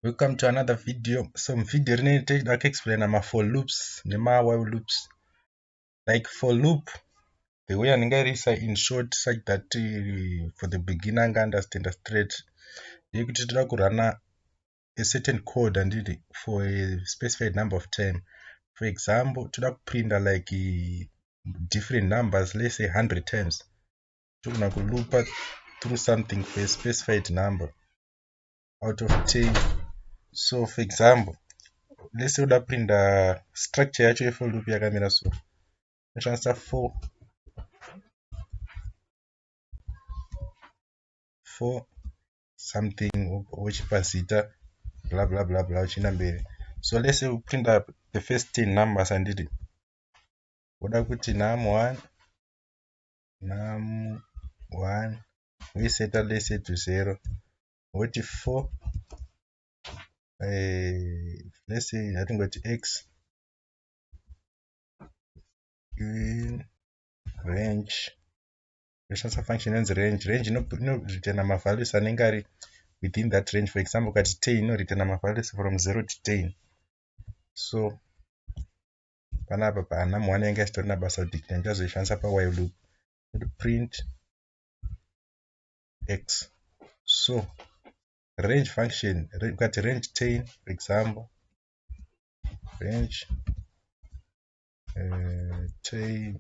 welcome to another video so muvideo rinei tichida kuexplaina mafor loops nemawhile loops like for loop the way andingairisa in short such that uh, for the beginner anga understanda straight yekuti toda kurana a certain code anditi for a specified number of time for example toda kuprinda like uh, different numbers let's say 100 times togona kulupa through something for a specified number out of 10 so for example lese uda kupinda structure yacho yefo loop yakamira so toshandisa 4 4 something wochipa zita bla bla bla bla uchienda mberi so lese upinda the first 10 numbers handiti woda kuti num 1 num 1 voiseta lese to zero voti 4 eh, let's say hatingoti x in range yoshandisa function inonzi range range inoritana mavalues anenge ari within that range for example ukati ten inoritana mavalues from zero to ten so panapa paana muwana yanga isitorina basa kuti ndichazoishandisa pawhile loop print x so range function ukati range tain for example range uh, tain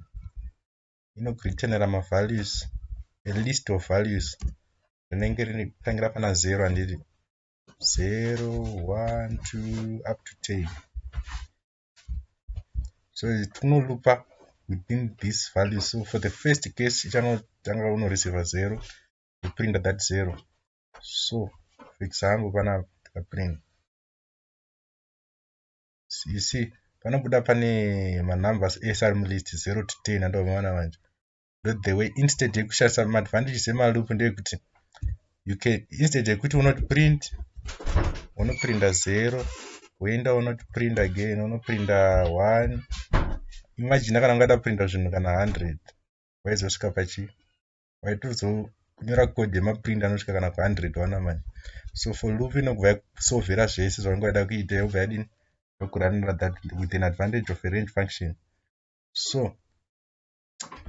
inokureturnera mavalues a list of values rinenge rinotangira pana zero handiti zero one two up to ten so tinolupa within this value so for the first case ichanotanga unoreceiva zero ndoprinda that zero so fixa hangu panapa ndikaprint you see panobuda pane manumbers ese ari mulist 0 to 10 andomaona manje the way instead yekushandisa maadvantages emaloop ndeyekuti you can instead yekuti unoti print unoprinda zero woenda unoti print again unoprinda one imagine kana ungada kuprinda zvinhu kana hundred waizosvika pachi waitozonyora code yemaprint anosvika kana kuhundred wana mani so for loop inobva yakusovhera zvese zvaunge wada kuita yobva yadini yokuranira that with an advantage of a range function so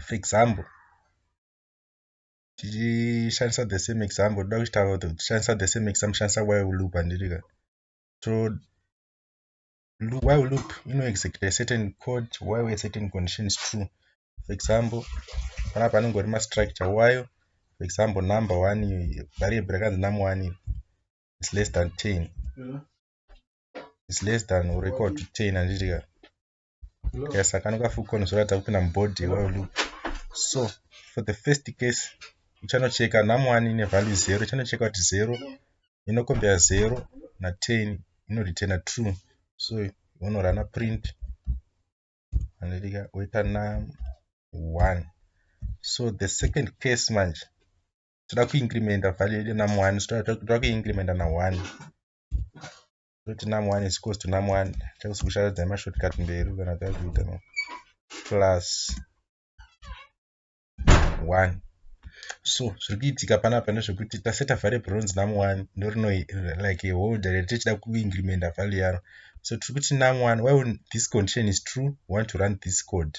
for example tichishandisa the same example toda kuchitaura kuti tichishandisa the same example shandisa why loop handiri ka so why loop inoexecuta a certain code why a certain condition is true for example panapa anongori mastructure wayo for example number one variable rakanzi num one is less than ten is less than or equal to ten handiri ka yes akano kafukoni zvoratidza kupinda mubody iwayo loop so for the first case uchanocheka namwani nevalue zero uchanocheka kuti zero inokombera zero naten inoreturna true so unorana print anotika oita na one so the second case manje toda kuincrementa value yedu namwani so toda kuincrementa na one totina mu one is equals to num one takuzokusharadza nemashortcut mberi kana takuita no plus one so zviri kuitika panapa ndezvekuti taseta variable ronzi num one ndorino like a holder riri tichida kuincrementa value yaro so tiri kuti num one why this condition is true we want to run this code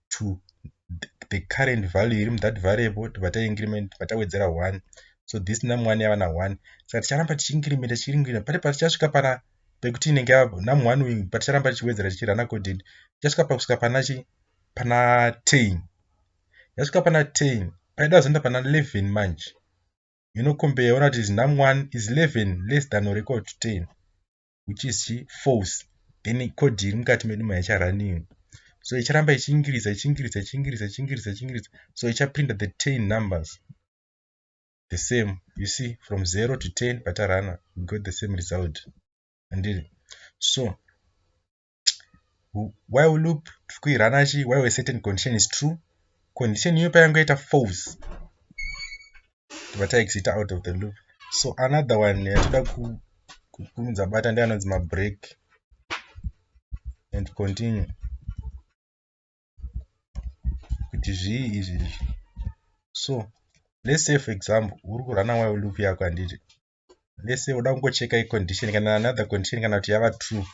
to the current value iri muthat variable tobva taincriment tobva tawedzera one so this num one yava na one saka ticharamba tichiincriment tichiincriment pati patichasvika pana pekuti inenge yava num one uyu paticharamba tichiwedzera tichirana codin tichasvika pakusvika pana chi pana ten yasvika pana ten paida zoenda pana eleven manje inokombeya ona kuti is num one is eleven less than or equal to ten which is chi false then code iri mukati medu maicha running so icharamba ichiingiriza ichiingiriza ichiingiriza ichiingiriza ichiingiriza so ichaprinta the ten numbers the same you see from zero to ten patarana we got the same result andiri so while loop tiri kuirana chi while a certain condition is true condition iyo payange yaita false tobva taexita out of the loop so another one yatoda kukumidza bata ndi anonzi mabreak and continue kuti zvii izvi izvi so let's say for example uri kurana while loop yako handiti let's say unoda kungocheka icondition kana another condition kana kuti yava true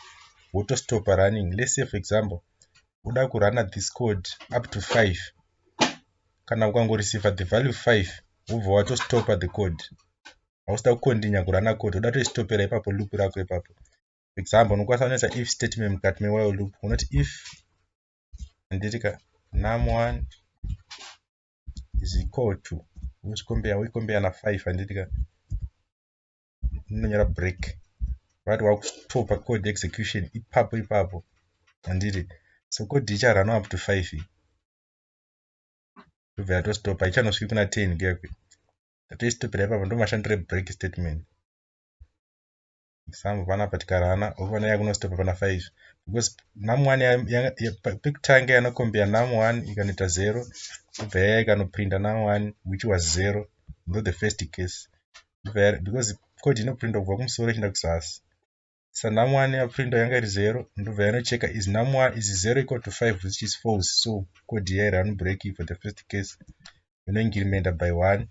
wotostopa running let's say for example uda kurana this code up to five kana ukangoreceiva the value five wobva watostopa the code hausida kukondinya kurana code uda toistopera ipapo loop rako ipapo for example unokwanisa unoisa if statement mukati mewhile loop unoti if ndiri ka num one is equal to unochikombeya woikombeya na 5 handiti ka unonyora break vati wakutopa code execution ipapo ipapo handiti so code icharana up to 5 ndobva yatostopa ichanosviki kuna 10 kuyakwe ndatoistopera ipapo ndomashandira break statement some vana patikarana ovana yakunostop pana five because nam one pekutanga yanokombea nam one ikanoita zero obva yaya ikanoprinda nam one which was zero not the first case because code inoprinda kubva kumusoro ichienda kuzasi sa nam one yaprinda yanga iri zero ndobva yanocheka is nam one is zero equal to five which is false so code yairi anobreak for the first case yonoingirimenda by one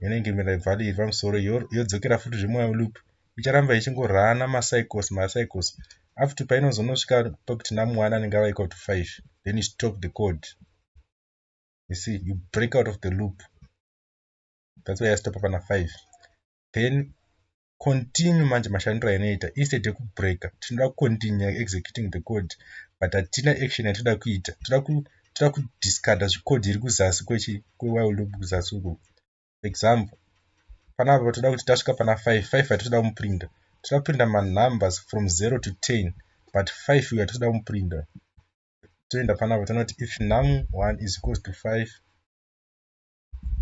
yonoingirimenda ibva iri pamusoro yodzokera futi zvemwayo loop icharamba ichingorana macycles macycles up to painozonosvika pakuti namu one anenge ava equal to five then you stop the code you see you break out of the loop that's why yastop pana five then continue manje mashandiro ainoita instead yekubreaka tinoda kucontinue executing the code but hatina action yatinoda kuita toda kudiscarda zvicode iri kuzasi kwechi kwewile loop kuzasi uko for example panapa toda kuti tasvika pana five five hatitoda kumuprinda toda kuprinda manumbers from zero to ten but five uyo hatitoda kumuprinda toenda panapa tonoti if num one is equals to five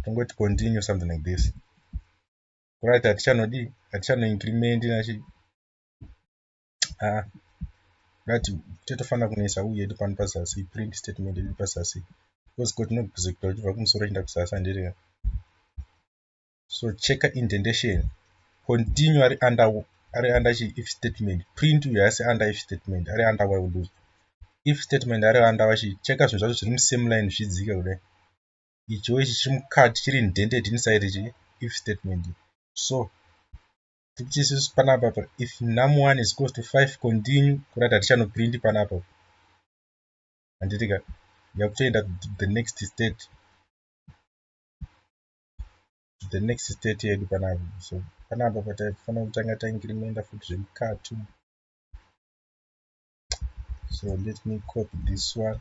tongoti continue something like this right hatichanodii hatichanoincrement nachi ah right tetofanira kunoisa u yedu pano pazasi print statement yedu pazasi because ko tinobhizikita uchibva kumusoro chienda kuzasi handiri so checka indentation continue ari under ari under chi if statement print uyo haasi under if statement ari under while loop if statement ari under vachi checka zvinhu zvacho zviri musame line zvichidzika kudai icho ichi chiri mukati chiri indented inside ichi if statement so tikuti isusu panapa if num one is close to five continue kurati hatichanoprint panapa handiti ka yakutoenda the next state the next state yedu panapa so panapa pataifanira kutanga taingirimenda futi zvemukati so let me copy this one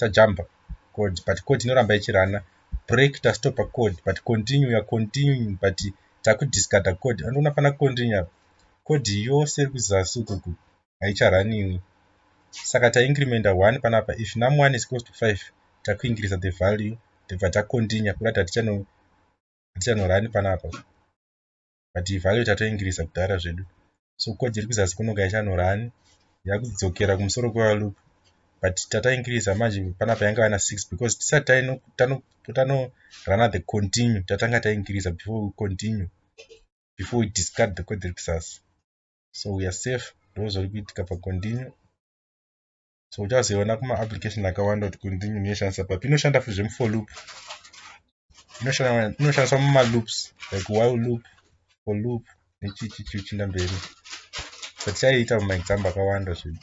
tajamba code but code inoramba ichirana break tastopa code but continue ya continuing but takudiscarda code andiona fana continue apa code yose iri kuzasi ukuku haicharaniwi saka taincremenda one panapa if num one is close to five takuincreasa the value tibva tacontinue kuda kuti hatichanorani panapa but value tatoingirisa kudhara zvedu so coach iri kuzasi kunoka ichanhora ani yakudzokera kumusoro kwevalup but tataingirisa manje panapa yanga vana six because tisati tanorunner the continue tatanga taingirisa before we continue before we discard the coach iri kuzasi so weare safe ndozviri kuitika pacontinue so uchazoiona kuma application akawanda kuti kunzi munhu inoshandisa papi inoshanda futi zvemu for loop inoshandiswa muma loops like while loop for loop nechichichi uchinda mberi but chaiita muma example akawanda zvinhu